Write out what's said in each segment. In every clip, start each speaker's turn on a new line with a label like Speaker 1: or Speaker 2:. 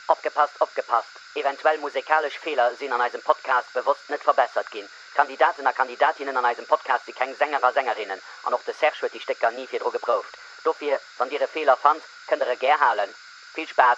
Speaker 1: Opgepasst, opgepasst, eventuell musekalesch Feeler sinn an eisem Podcast bewosst net verbessert ginn. D'Kandidaten a Kandidatinnen an eisem Podcast si keng Sänger a Sängerinnen an och de Serge huet déi Stécker ni virdru geprouft. Dofir, wann Dir e Feeler fannt, kënnt Der e gär halen. Vill Spaass!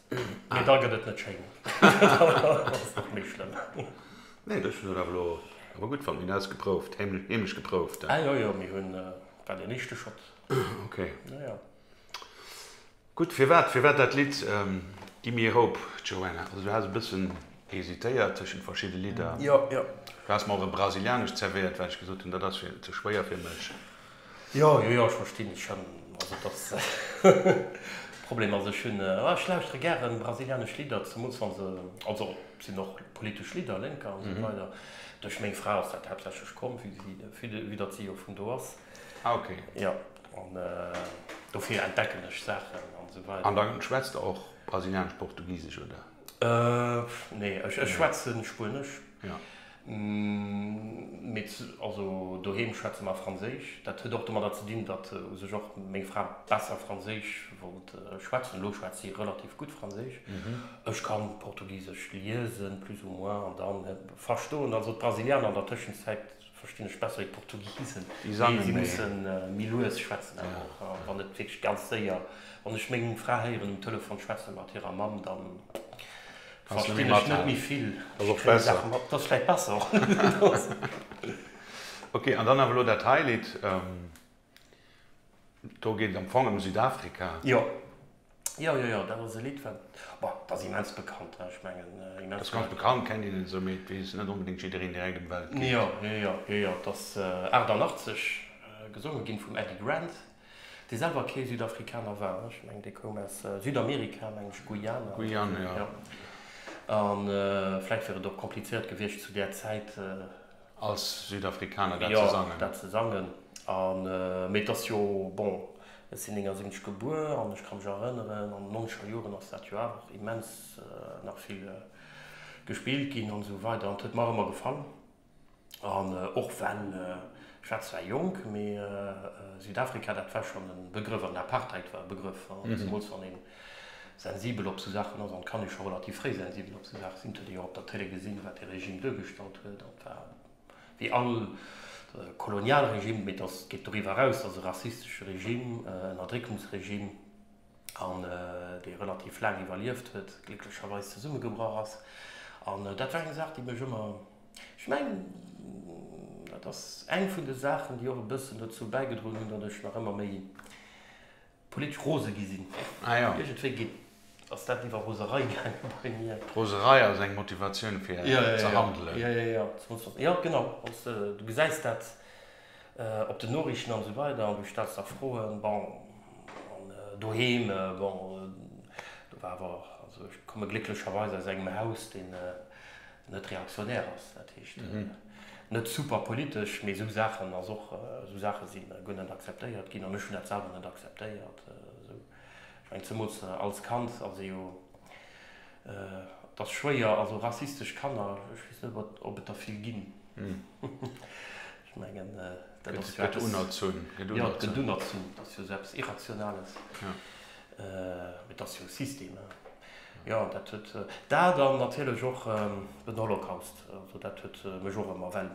Speaker 1: Mee da gëtt et net schéin. Dat ass nach méi schlëmm. Nee, ech hunn dat awer elo awer gutt fonnt. Mir hunn ausgeprouft, heemlech geprouft, he? Jo, jo, mir hunn, war deen éischte Schott. Ok. Jo, jo. Gutt, firwat, firwat dat Lidd Gi mir Hope, Joanna? Also, du has e bëssen hesitéiert tëschent verschidde Lidder. Jo, jo. Du has mer och e brasilianescht zerwéiert, well ech gesot hunn, dat ass ze schwéier fir mech. Jo, jo, jo, ech verstinn et schon. Also dass Problem, also ech hunn, ah ech lauschtere gären brasilianesch Lidder, zemools wann se, also et sinn och politesch Lidder, Lénker an esou weider. Duerch meng Fra ass dat haaptsächlech komm, vue si, vue de, vue datt si jo vun do ass. Ah ok. Jo, an dofir entdecken ech Saachen an esou weider. An da schwätzt der och brasilianesch-portugisesch, oder? Nee, ech schwätzen Spuenesch. Mee also doheem schwätze mer Franséisch. Dat huet och domadder ze dinn, datt u sech och meng Fra besser Franséisch wollt schwätzen. Elo schwätzt si relativ gutt Franséisch. Ech ka Portugisesch liesen, plus ou moins, an dann verstoen. Also d'Brasilianer an der Tëschenzäit. Verstinn ech besser wéi d'Portugisen, mee si musse méi lues schwätzen awer och wann net wierklech ganz séier. Wann ech meng Fra héieren um Telefon schwätze mat hirer Mamm, da verstinn ech net méi vill. Ech kréie Saache mat, dat ass vläicht besser. Ok, an dann awer elo dat hei Lidd. Do geet et am Fong ëm Südafrika. Jo, jo, jo, jo, dat ass e Lidd wat, ma dat ass immens bekannt, ech mengen immens. Dat ass ganz bekannt, kennt een esou, mee et weess net onbedéngt jiddereen direkt ëm wat et geet. Jo, jo, jo, jo, jo, et ass 88 gesonge ginn vum Eddy Grant, dee selwer kee Südafrikaner war, ech mengen dee koum aus Südamerika, meng ech Guyana. Guyana, jo. An vläicht wier et och komplizéiert gewiescht zu där Zäit. Als Südafrikaner dat ze sangen? Jo, dat ze sangen. An, mee et ass jo, bon, ech sinn 79 gebuer an ech ka mech erënneren, an den nonzeger Joren ass dat jo awer och immens nach vill gespillt ginn an esou weider. An et huet mer ëmmer gefall. An och well, ech war zwar jonk, mee Südafrika, dat war schonn e Begrëff. An Apartheid war e Begrëff, zemools wann een, sensibel op esou Saachen ass an d'Kanne scho relativ fréi sensibel op esou Saache sinn. Dat huet ee jo och op der Tëlee gesinn, wat dee Regime duergestallt huet. An et war wéi all Kolonialregime, mee dass, geet doriwwer eraus, dass e rassistesche Regime, en Erdréckungsregime, an dee relativ laang iwwerlieft huet, glécklecherweis zesummegebrach ass. An dat war eng Saach, déi mech ëmmer, ech mengen, dat ass eng vun de Saachen, déi och e bëssen dozou bäigedroen hunn, datt ech nach ëmmer méi Politesch rose gi sinn. Ah jo. Iergendwéi geet, ass dat iwwer Roserei gaangen bei mir. Roserei ass eng Motivatioun fir ze handelen. Ja, ja, ja, zum Schluss. Jo, genau. Wann s de, du gesäis dat op den Noriichten an esou weider an du stells der Froen. Bon, an doheem, bon, do war awer, also ech komme glécklecherweis aus engem Haus, deen, net reaktionär ass, dat heescht net super politesch, mee esou Saachen, ass och esou Saache si guer net akzeptéiert ginn an ech hunn dat selwer net akzeptéiert. Esou, ech mengen zemools als Kand ass ee jo, et ass schwéier, also rassistesch Kanner, ech weess net, ob et der vill ginn. Ech mengen, dat ass jo eppes. Gëtt unerzunn. Jo, et gëtt unerzunn. Et ass jo esou eppes Irrationales. Mee et ass jo e System. Jo, dat huet. Dat an natierlech och den Holocaust. Also dat huet mech och ëmmer. Well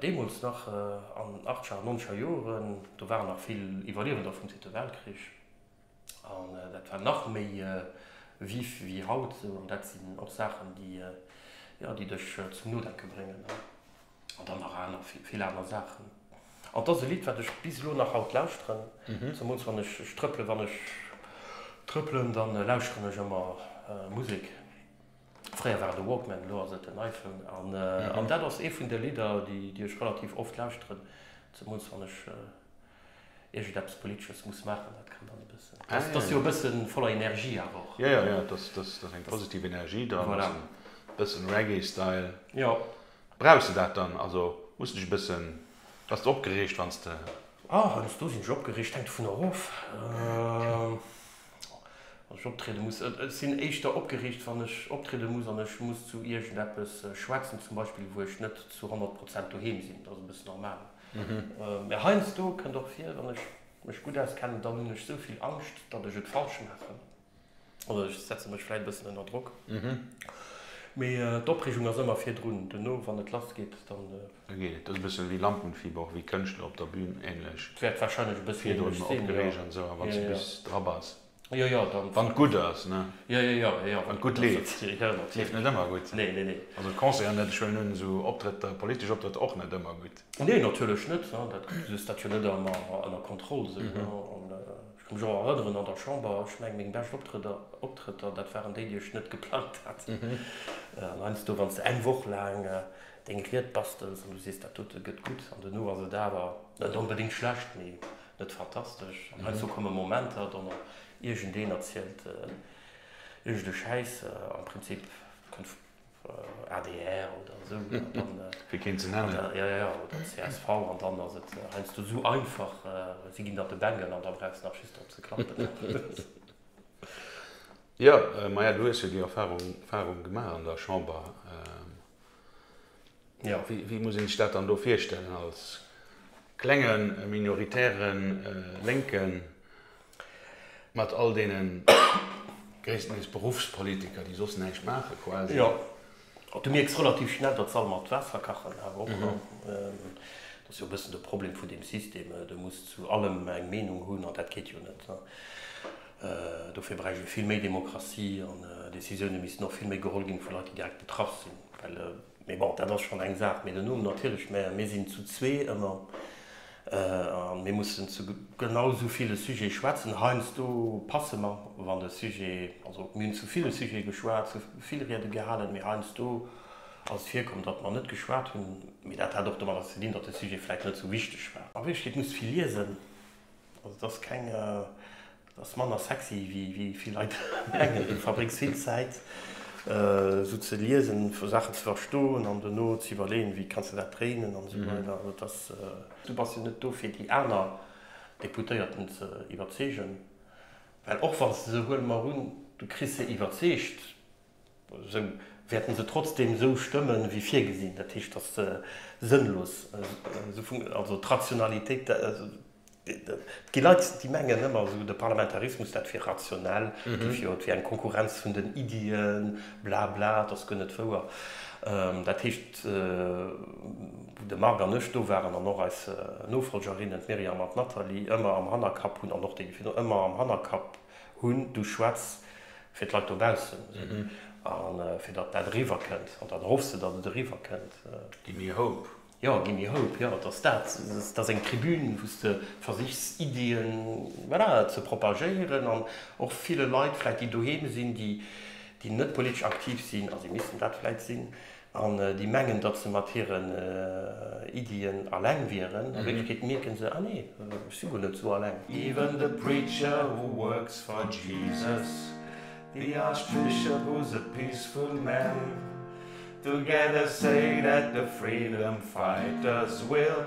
Speaker 1: deemools nach an den Achtcher an Nonzeger Joren, do waren nach vill Iwwerliewender vum Zweete Weltkrich. An dat war nach méi vif wéi haut. An dat sinn och Saachen, déi, jo, déi dech zum Nodenke bréngen. An dann nach aner, vill aner Saachen. An et ass e Lidd, wat ech bis elo nach haut lauschteren. Zemools wann ech, ech trëppelen, wann ech trëppelen, da lauschteren ech ëmmer Musek. Fréier war et e Walkman, elo ass et en iPhone. An dat ass ee vun de Lidder, déi ech relativ oft lauschteren, zemools wann ech, iergendeppes Politesches muss maachen, dat kann dann e bëssen, dat ass jo e bësse voller Energie awer och. Jo, jo, dat ass eng positiv Energie dran, e bëssen Reggae-Style. Jo. Brauchs de dat dann? Also muss dech e bëssen, bass de opgereegt wann s de. Oh, heiansdo sinn ech opgereegt, hänkt dovun erof, wann ech optriede muss. Ech sinn éischter opgereegt, wann ech optriede muss an ech muss zu iergendeppes schwätzen, zum Beispill wou ech net zu honnert Prozent doheem sinn, dat ass e bëssen normal. Mä heiansdo kënnt och vir, wann ech mech gutt auskennen, dann hunn ech esou vill Angscht, datt ech et falsch maachen. Also ech setze mech vläit e bëssen ënner Drock, mee d'Opreegung ass ëmmer virdrun. Duerno, wann et lass geet, dann. Da geet et. Dat ass e bësse wéi Lampenfieber, och wéi Kënschtler op der Bühn, änlech. Wäert warscheinlech e bësse änlech sinn, jo. Virdrun opgereegt an esou, a wa se bis dra bass. Jo, jo, dann. Wann et gutt ass, ne? Jo, jo, jo, jo. Wann et gutt leeft. Natierlech, jo, natierlech. Leeft net ëmmer gutt. Nee, nee, nee. Also d'Concerten net, ech huelen un, esou Optrëtter, politesch Optrëtter och net ëmmer gutt. Nee, natierlech net. Dat, du hues dat jo net ëmmer ënner Kontroll esou, ne? An ech ka mech och erënneren an der Chamber, ech mengen, meng bescht Optrëtter, Optrëtter, dat waren déi, déi ech net geplangt hat. An heiansdo, wann s de eng Woch laang deng Ried bastels an du sees, dat dote gëtt gutt an duerno ass et awer net onbedéngt schlecht, mee Net fantastesch, an heiansdo komme Momenter, do mer iergendeen erzielt iergendee Schäiss, am Prinzip kënnt adr oder esou, fir keen ze nennen, jo jo, oder csv, an dann ass et heiansdo esou einfach, si ginn der de Bengel an da brauchs de nach just drop ze klappen. Jo, maja, du hues jo déi Erfahrung gemaach an der Chamber. Jo, wéi muss ee sech dat dann do virstellen, als klenge minoritäre Lénke mat all deene gréisstendeels Beruffspolitiker, déi soss näischt maache quasi? Jo, du mierks relativ schnell, datt se all mat Waasser kachen, awer och an, dat ass jo e bëssen de Problem vun deem System, du muss zu allem eng Meenung hunn an dat geet jo net. Dofir bräicht ee vill méi Demokratie an Decisioune missten och vill méi geholl ginn vu Leit, déi direkt betraff sinn. Well, mee bon, dat ass schonn eng Saach. Mee dono natierlech, mä mir sinn zu zwee ëmmer a mir mussen zu genau esou ville Sujete schwätzen. Heiansdo passe mer, wann de Sujet, also mir hunn zu ville Sujete geschwat, zu vill Riede gehalen, mee heiansdo ass et virkomm, datt mer net geschwat hunn. Mee dat hat och domadder ze dinn, datt de Sujet vläicht net esou wichteg war. A Wierklechkeet muss vill liesen. Also et ass keng, et ass manner sexy wéi vill Leit mengen. Du verbréngs vill Zäit esou ze liesen, vu Saachen ze verstoen an dono ze iwwerleeën, wéi kanns de dat dréinen an esou weider. Also et ass, du bass jo net do fir déi aner Deputéierten ze iwwerzeegen, well och wann s de se, huele mer un, du kriss se iwwerzeegt, Sou wäerten se trotzdem sou stëmmen wéi virgesinn. Dat heescht, dass se sënnlos, also d'Rationalitéit, et gi Leit déi mengen ëmmer esou de Parlamentarismus dat wier rationell, do wier et wéi eng Konkurrenz vun den Iddien, bla bla, et ass guer net wouer. Dat heescht, wou de Marc an ech do waren an och eis Nofolgerinnen, d'Myriam an d'Nathalie, ëmmer am Hannerkapp hunn, an och déi, déi virun, ëmmer am Hannerkapp Hunn, du schwätz fir d'Leit dobaussen a fir datt dat eriwwer kënnt an dat erhoffs de, datt et eriwwer kënnt. Gi méi Hope. Jo, gi méi Hope, jo, et ass dat. Et ass eng Tribün, wou s de versichs Iddien, voilà, ze propagéieren an och ville Leit vläicht, déi doheem sinn, déi net politesch aktiv sinn, a si missten dat vläicht sinn, An déi mengen, datt se mat hiren Iddien aleng wieren. A Wierklechkeet mierken se, Ah nee, ech si guer net esou aleng. Even the preacher who works for Jesus, the archbishop who's a peaceful man, together say that the freedom fighters will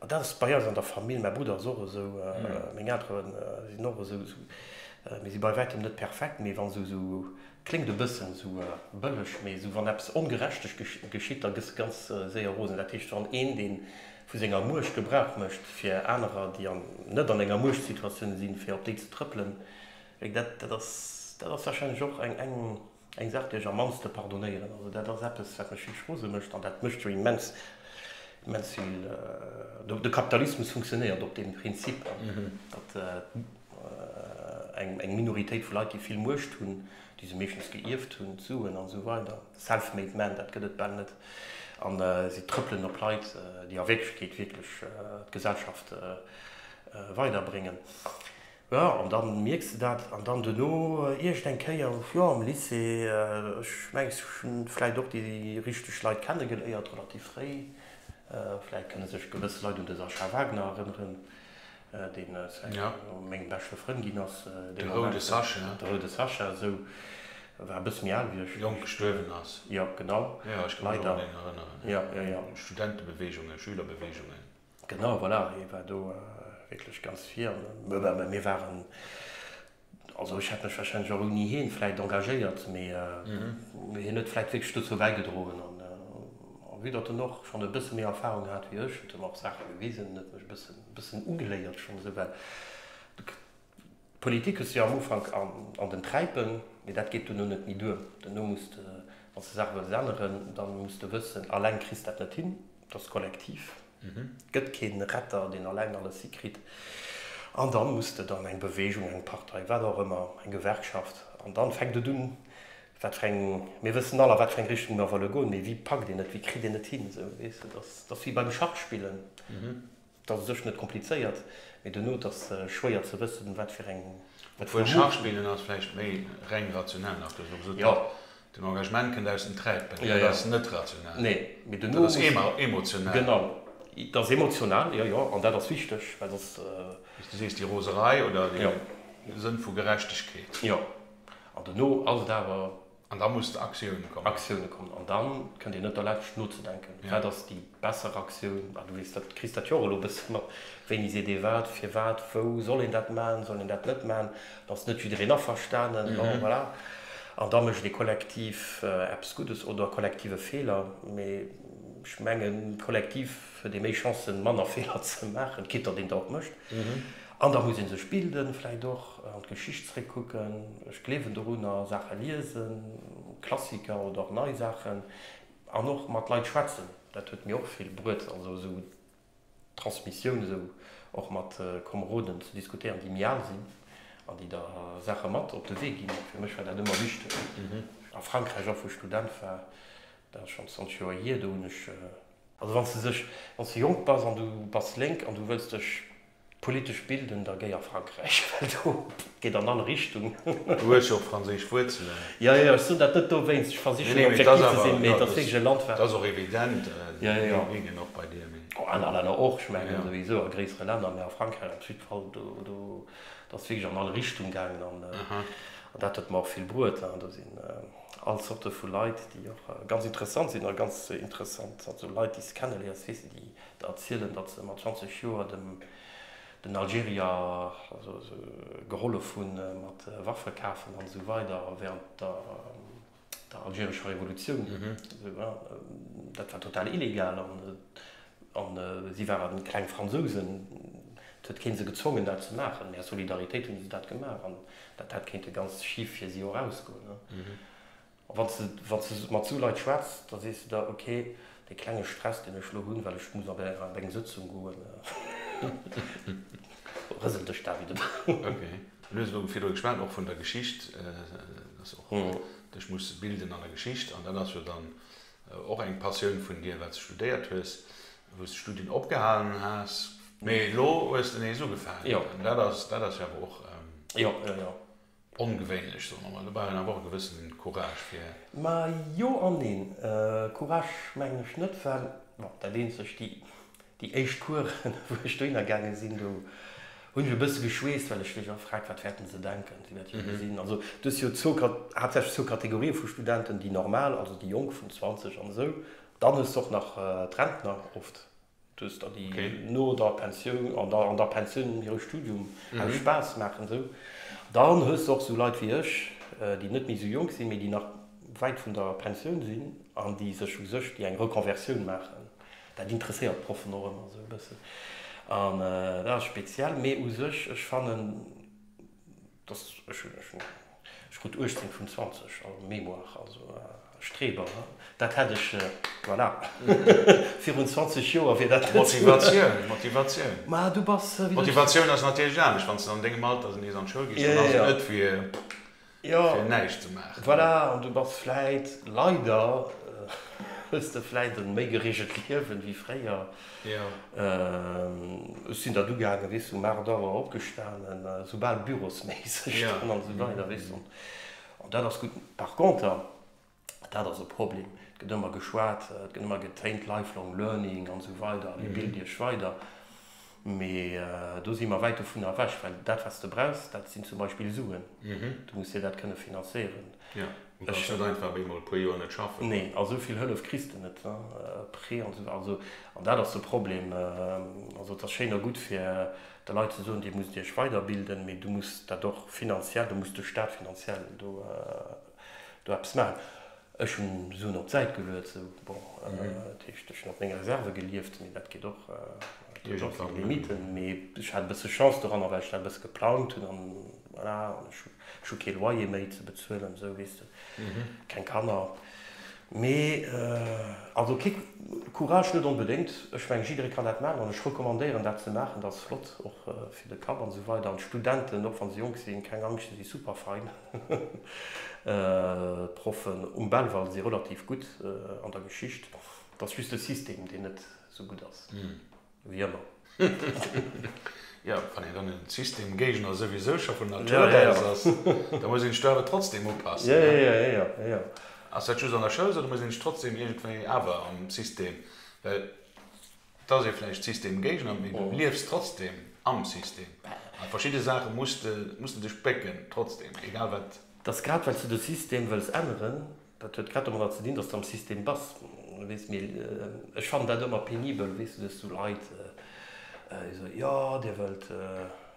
Speaker 1: An dat ass bei eis an der Famill, mäi Brudder ass och esou, meng Eltere sinn och esou, mir si bei wäitem net perfekt, mee wann esou, kléngt e bëssen esou bëlleg, mee esou wann eppes Ongerechtes geschitt, da gëss de ganz séier rosen. Dat heescht, wann een, dee vu senger Muecht Gebrauch mécht, fir anerer, déi net an enger Muechtsituatioun sinn, fir op déi ze trëppelen, dat ass, dat ass warscheinlech och eng. Eng Saach, déi ech am mannste pardonéieren. Also dat ass eppes, wat mech richteg rose mécht. An dat mécht jo immens, immens vill. De Kapitalismus funktionéiert op deem Prinzip, datt eng Minoritéit vu Leit, déi vill Muecht hunn, déi se meeschtens geierft hunn, d'Suen an esou weider, self-made men, dat gëtt et bal net, a si trëppelen op Leit, déi a Wierklechkeet wierklech d'Gesellschaft weiderbréngen. Jo, an da mierks de dat. An dann duerno iergend eng Kéier, jo, am Lycée, ech mengen, ech hu vläicht och déi richteg Leit kennegeléiert, relativ fréi. Vläicht kënne sech gewëss Leit un de Sascha Wagner erënneren, deen no mengem beschte Frënd ginn ass. De roude Sascha. De roude Sascha, esou. E war e bësse méi al wéi ech. Jonk gestuerwen ass. Jo, genau. Jo, ech ka mech och un en erënneren. Jo, jo, jo. Studentebeweegungen, Schülerbeweegungen. Genau, voilà, hie war do wierklech ganz virn. Mä mir waren, also ech hätt mech warscheinlech och ouni hien vläit engagéiert, mä hien huet vläit wierklech dozou bäigedroen. An vue datt en och schonn e bësse méi Erfahrung hat wéi ech, huet e mer och Saache gewisen, huet mech e bëssen ugeléiert, schonn esou well. D'Politik hues de jo am Ufank an den Träipen, mee dat geet duerno net méi duer. Duerno muss de, wann s de Saache wëlls änneren, da muss de wëssen, alleng kriss dat net hin. Et ass kollektiv. Et gëtt kee Retter, deen alleng alles hikritt. An da muss de dann eng Beweegung, eng Partei, wat och ëmmer, eng Gewerkschaft, an da fänkt et un, wat fir eng, mir wëssen all, a wat fir eng Richtung mer wëlle goen, mee wéi packt een et, wéi kritt een et hin, esou, weess de, dat ass wéi beim Schachspillen. Et ass u sech net komplizéiert, mee duerno, et ass schwéier ze wëssen, wat fir eng Vermutung. Obwuel Schachspillen ass vläicht méi reng rationell, nach. Du hues elo gesot, den Engagement kënnt aus dem Träipen. Dat ass net rationell. Dat ass emotional. Genau, et ass emotional, jo, jo. An dat ass wichteg, well soss. Wéi s du sees, déi Roserei oder dee Sënn vu Gerechtegkeet. Jo. An duerno ass et awer. An da muss d'Aktioun kommen. Aktioune kommen. An da kënnt Dir net derlescht nozedenken, wat ass déi besser Aktioun. A du weess, dat kriss dat jo och elo e bëssen mat, wéini seet ee wat, firwat, wou, soll een dat maachen, soll een dat net maachen, da ass net jiddereen averstanen, bon voilà. An da mécht ee kollektiv eppes Guddes oder kollektiv e Feeler. Mee ech mengen, kollektiv huet ee méi Chancen, manner Feeler ze maachen, quitt datt een der och mécht. An da muss ee sech bilden, vläicht och an d'Geschicht zréckkucken. Ech gleewen dorunner, Saache liesen, Klassiker oder och nei Saachen, an och mat Leit schwätzen, dat huet mir och vill bruet. Also esou Transmissioun, esou och mat Komeroden ze diskutéieren, déi méi al sinn an déi der Saache mat op de Wee ginn. Fir mech war dat ëmmer wichteg. A Frankräich och, wou ech Student war, dat ass schonn 20 Joer hier, do hunn ech. Also wann s de sech, wann s de jonk bass an du bass lénk an du wëlls dech. D'politesch Bildung, da géi a Frankräich, well do geet an all Richtung. Du hues jo och franséisch Wuerzelen. Jo, jo, ech soen dat net dowéinst, ech versichen hei objektiv ze sinn, mee et ass wierklech e Land, wat. Dat ass och evident, Medien och bei dir, mee. An anere Länner och, ech mengen souwisou a gréissere Länner, mee a Frankräich op jiddwer Fall, do ass et wierklech an all Richtung gaangen an dat huet mer och vill bruet. Do sinn all Zorte vu Leit, déi och ganz interessant sinn a ganz interessant, also Leit, déi s de kennelierns, weess de, déi erzielen, datt se mat 20 Joer dem den Algerier gehollef hunn mat Waffe kafen an esou weider während der der algerescher Revolutioun. Dat war total illegal an si waren kleng Fransousen, et huet kee se gezwongen dat ze maachen, mee aus Solidaritéit hunn se dat gemaach an dat hätt kéinte ganz schif fir si och ausgoen. Wann s de mat sou Leit schwätz, da sees de der, ok, dee klenge Stress, deen ech lo hunn, well ech muss an där an deng Sëtzung goen, rëselt dech dat wieder drun. Du hues elo virdru geschwat och vun der Geschicht, dass och dech muss bilden an der Geschicht. An dat ass jo dann och eng Passioun vun dir, wat s de studéiert hues, wou s de d'Studien opgehalen has, mee elo hues de nees ugefaangen. Dat ass jo awer och. Ongewéinlech, soe mer mol. Do brauch een awer och e gewësse Courage fir. Ma jo an neen. Courage mengen ech net, well, bon, dat eenzegt, déi, déi éischt Coursen, wou ech dohinner gaange sinn, do hunn ech e bësse geschweesst, well ech mech och fragt, wat wäerten se denken? Si wäerte jo gesinn, also du hues jo zwou, haaptsächlech zwou Kategorië vu Studenten, déi normal, also déi Jonk vun 20 an esou, dann hues de och nach d'Rentner oft. Du hues da déi no der Pensioun, an der Pensioun no hirem Studium aus Spaass maachen an esou. Dann hues de och esou Leit wéi ech, déi net méi esou jonk sinn, mee déi nach wäit vun der Pensioun sinn an déi sech u sech, déi eng Reconversioun maachen. Dat interesséiert d'Proffen och ëmmer esou e bëssen an dat ass speziell. Mee u sech, ech fannen. Dass ech hunn ech hunn ech krut 18 vun 20 a Mémoire, also Streber ne? Dat hätt ech voilà virun 20 Joer wier dat net sou. Motivatioun, Motivatioun. Ma du bass wéi de. Motivatioun ass natierlech anescht wann s de an dengem Alter nees an d'Schoul gees, dann ass et net fir fir näischt ze maachen. Voilà an du bass vläit leider hues de vläit e méi geregelt Liewen wéi fréier. Ech sinn dat ugaangen, weess de, um aacht Auer opgestanen, esou bal bürosméisseg dann an esou weider, weess de. An dat ass gutt. Par conter, dat ass e Problem, et gëtt ëmmer geschwat, et gëtt ëmmer getéint, lifelong learning an esou weider, dir bilt iech weider. Mee do si mer wäit dovunner ewech, well dat, wat s de brauchs, dat sinn zum Beispill Suen. Du muss dir dat kënne finanzéieren. Jo, du kanns net einfach méi mol e puer Joer net schaffen. Neen, a souvill Hëllef kriss de net, Prêt an esou, also, an dat ass de Problem. Also et ass schéin a gutt fir de Leit ze soen, dir musst iech weiderbilden, mee du muss dat och finanziell, do muss de Staat finanziell do do eppes maachen. Ech hunn Suen op d'Säit geluet, esou, bon, dat heescht, ech hunn op meng Reserve gelieft, mee dat geet och, dat huet och seng Limiten. Mee ech hat e bësse Chance doranner, well ech dat e bësse geplangt hunn an voilà, an ech hu Ech hu kee Loyer méi ze bezuelen, esou weess de, keng Kanner méi. Also kick, Courage net onbedéngt, ech mengen jiddere kann dat maachen an ech recommandéieren dat ze maachen, dat ass flott och fir de Kapp an esou weider. An d'Studenten, och wann se jonk sinn, keng Angscht, se si super fein. D'Proffen um Belval si relativ gutt an der Geschicht, et ass just de System deen net esou gutt ass. Wéi ëmmer. Jo, wann een dann e Systemgéigner souwisou scho vun Natur aus ass, da muss een sech do awer trotzdeem upassen, ne? Ass dat just an der Schoul esou, oder muss een sech trotzdeem iergendwéi awer am System, well et ass ee vläicht Systemgéigner, mee du liefs trotzdeem am System. A verschidde Saache muss de dech bécken, trotzdeem, egal wat. Et ass grad, well s du de System wëlls änneren, Dat huet grad domadder ze dinn, dass de am System bass, weess. Mee ech fannen dat ëmmer penibel, weess du, dass esou Leit esou, jo, Dir wëllt,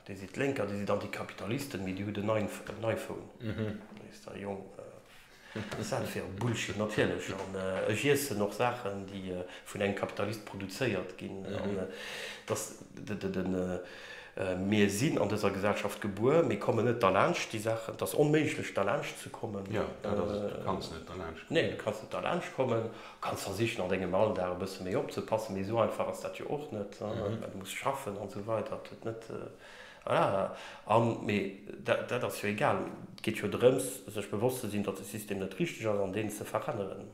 Speaker 1: Dir sidd Lénker, Dir sidd Antikapitalisten, mee Dir hutt en iPhone. Weess de, Jong, wat ass dat fir e Bullshit? Natierlech. An ech iessen och Saachen, déi vun engem Kapitalist produzéiert ginn. An dass de. Mir sinn an dëser Gesellschaft gebuer, mir kommen net derlaanscht déi Saachen. Et ass onméiglech derlaanscht ze kommen. Jo, dat ass et, du kanns net derlaanscht kommen. Nee, du kanns net derlaanscht kommen. Du kanns versichen an dengem Alldag e bësse méi opzepassen, mee esou einfach ass dat jo och net. Du muss schaffen an esou weider, et huet net, voilà. An, mee dat ass jo egal, et geet jo drëms sech bewosst ze sinn, datt de System net richteg ass an deen ze veränneren.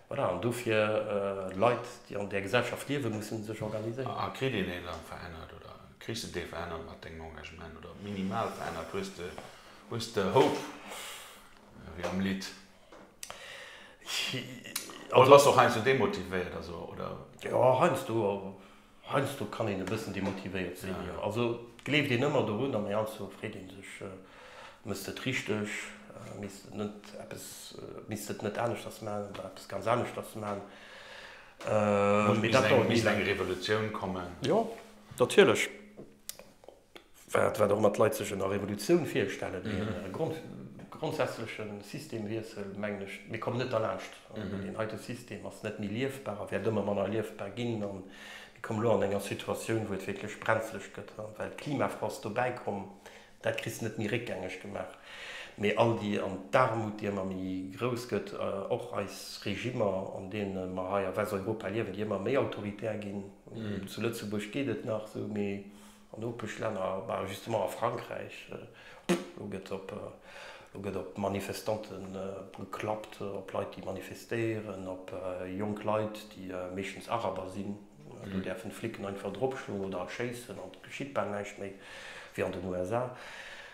Speaker 1: Voilà, an dofir, Leit, déi an där Gesellschaft liewen, mussen sech organiséieren. A kritt een ee Land verännert oder kriss de dee verännert mat dengem Engagement oder minimal verännert, hues de, hues de Hope, wéi am Lidd. Oder bass de och heiansdo demotivéiert, also, oder? Jo, heiansdo. Heiansdo kann een e bëssen demotivéiert sinn, jo. Also gleeft een ëmmer dorun an heiansdo freet ee sech, Méchs de et richteg? Misst et net eppes, misst de et net aneschters maachen oder eppes ganz aneschters maachen? Mee dat dauert méi laang. Misst eng Revolutioun kommen? Jo, natierlech. Wat och ëmmer d'Leit sech ënner Revolutioun virstellen, ee grondsätzleche Systemwiessel, mengen ech, mir kommen net derlaanscht. Deen heite System ass net méi liefbar a wäert ëmmer manner liefbar ginn. A mir kommen elo an enger Situatioun, wou et wierklech brenzlech gëtt, well de Klimafrost dobäi komm. Dat kriss de net méi réckgängeg gemaach. Mee all déi, an d'Aarmut, déi ëmmer méi grouss gëtt, och eis Regimmer, an deene mer hei a Westeuropa liewen, déi ëmmer méi autoritär ginn, zu Lëtzebuerg geet et nach esou, mee An Nopeschlänner, bah justement a Frankräich, do gëtt op, do gëtt op Manifestante geklappt, op Leit déi manifestéieren, op jonk Leit déi meeschtens Araber sinn. Do däerfen d'Flicken einfach dropschloen oder erschéissen an et geschitt bal näischt méi wéi an den USA.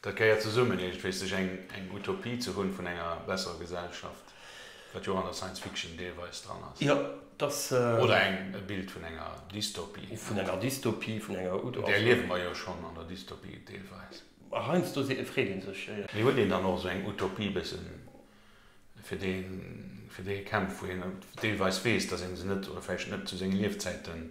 Speaker 1: Dat gehéiert zesummen, iergendwéis sech eng eng Utopie ze hunn vun enger besserer Gesellschaft, wat jo och an der Science Fiction deelweis dran ass. Jo, et ass. Oder eng e Bild vun enger Dystopie. Vun enger Dystopie, vun enger Utopie. Där liewe mer jo schonn an der Dystopie deelweis. A heiansdo si freet ee sech. Mee huet een dann och esou eng Utopie e bësse fir déi fir déi ee kämpft, wou een deelweis weess, datt ee se net oder vläicht net zu senge Liefzäiten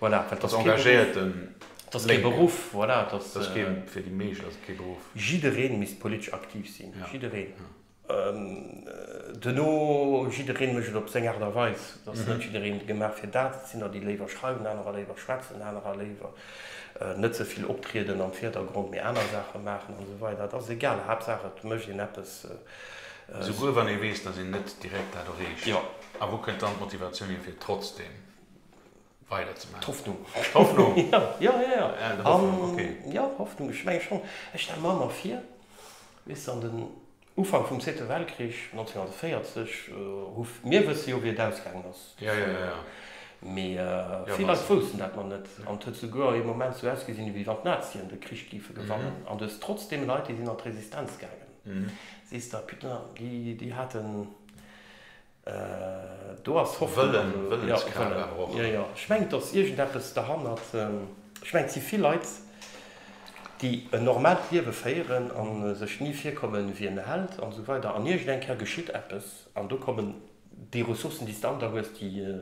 Speaker 1: Voilà, dat ass kee Beruff. Dat ass kee Beruff, voilà. Dat ass kee, fir déi meescht ass et kee Beruff. Jiddereen misst politesch aktiv sinn, jiddereen. Duerno, jiddereen mécht et op seng Aart a Weis. Et ass net jiddereen gemaach fir dat. Et sinn der, déi léiwer schreiwen, anerer léiwer schwätzen, anerer léiwer net sou vill optrieden am Virdergrond, mee aner Saache maachen an esou weider. Et ass egal, Haaptsaach et mécht een eppes. Souguer wann ee weess, dass een net direkt dat erreecht. A wou kënnt dann d'Motivatioun hier fir trotzdeem weider ze man Hoffnung Hoffnung ja ja ja Hoffnung okay ja Hoffnung ech menge schon ech stelle mer emmer vir wese an den Ufank vum zweete Weltkrich 1940 hu mir wësse jo wéi et ausgaangen ass ja ja ja mee vill Leit woussten dat mer net an et huet souguer ee Moment sou ausgesinn ewéi wann d'Nazien de Krich géife gewannen an du hues trotzdeem Leit déi sinn an d'Resistenz gaangen sees der putain déi déi haten Do ass Hoffnung, also Wëllen, Wëllenskraaft awer och. Jo, jo, ech mengen et ass iergend eppes derhannert. Ech mengen et si vill Leit déi en normalt Liewe féieren an sech ni virkommen ewéi en Held an esou weider an iergend eng Kéier geschitt eppes an do kommen déi Ressourcen déi s de an der hues déi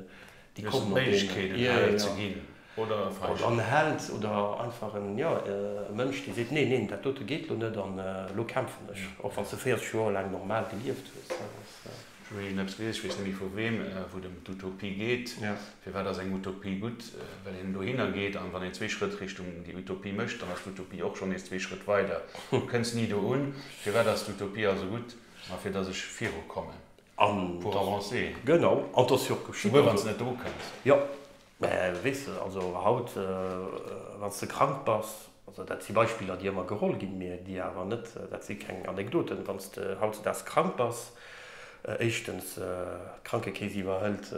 Speaker 1: Déi kommen mat deenen. Méiglechkeeten hell ze ginn oder e Feigen. Oder en Held oder einfach en, jo, e Mënsch, dee seet, Neen, neen, dat dote geet elo net an elo kämpfen ech, och wann s de 40 Joer laang normal gelieft hues. Ech hu virgin eppes gelies, ech weess net méi vu weem, wou et ëm d'Utopie geet. Firwat ass eng Utopie gutt? Well een dohinner geet an wann een zwee Schrëtt Richtung déi Utopie mécht, dann ass d'Utopie och schonn nees zwee Schrëtt weider. Du kënns ni do un. Firwat ass d'Utopie also gutt? Ma fir datt ech virukommen. An Pour da, avancer. genau, an et ass jo och geschitt. Souguer wann Also, s net drukënns. jo, mä weess de, also haut, wann s de krank bass, also dat si Beispiller, déi ëmmer geholl ginn, mä déi awer net, dat si keng Anekdoten, wann s de hautzudags krank bass, éischtens, d'Krankekeess iwwerhëlt,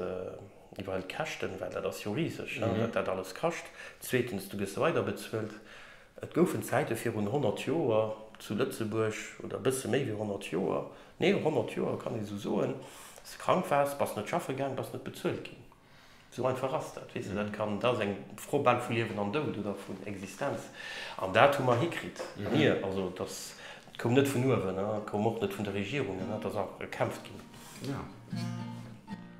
Speaker 1: iwwerhëlt d'Käschten, well dat ass jo riseg, wat dat alles kascht. Zweetens, du gëss weiderbezuelt. Et goufen Zäite virun 100 Joer zu Lëtzebuerg, oder e bësse méi wéi 100 Joer, neen, 100 Joer kann ee sou soen, dass de krank waars, bass net schaffe gaang, bass net bezuelt ginn. Sou einfach ass dat. Weess de, dat kann, dat ass eng Fro bal vu Liewen an Doud oder vun Existenz. An dat hu mer hikritt, mir. Also et ass, et koum net vun uewen, et koum och net vun de Regierungen, et ass einfach gekämpft ginn.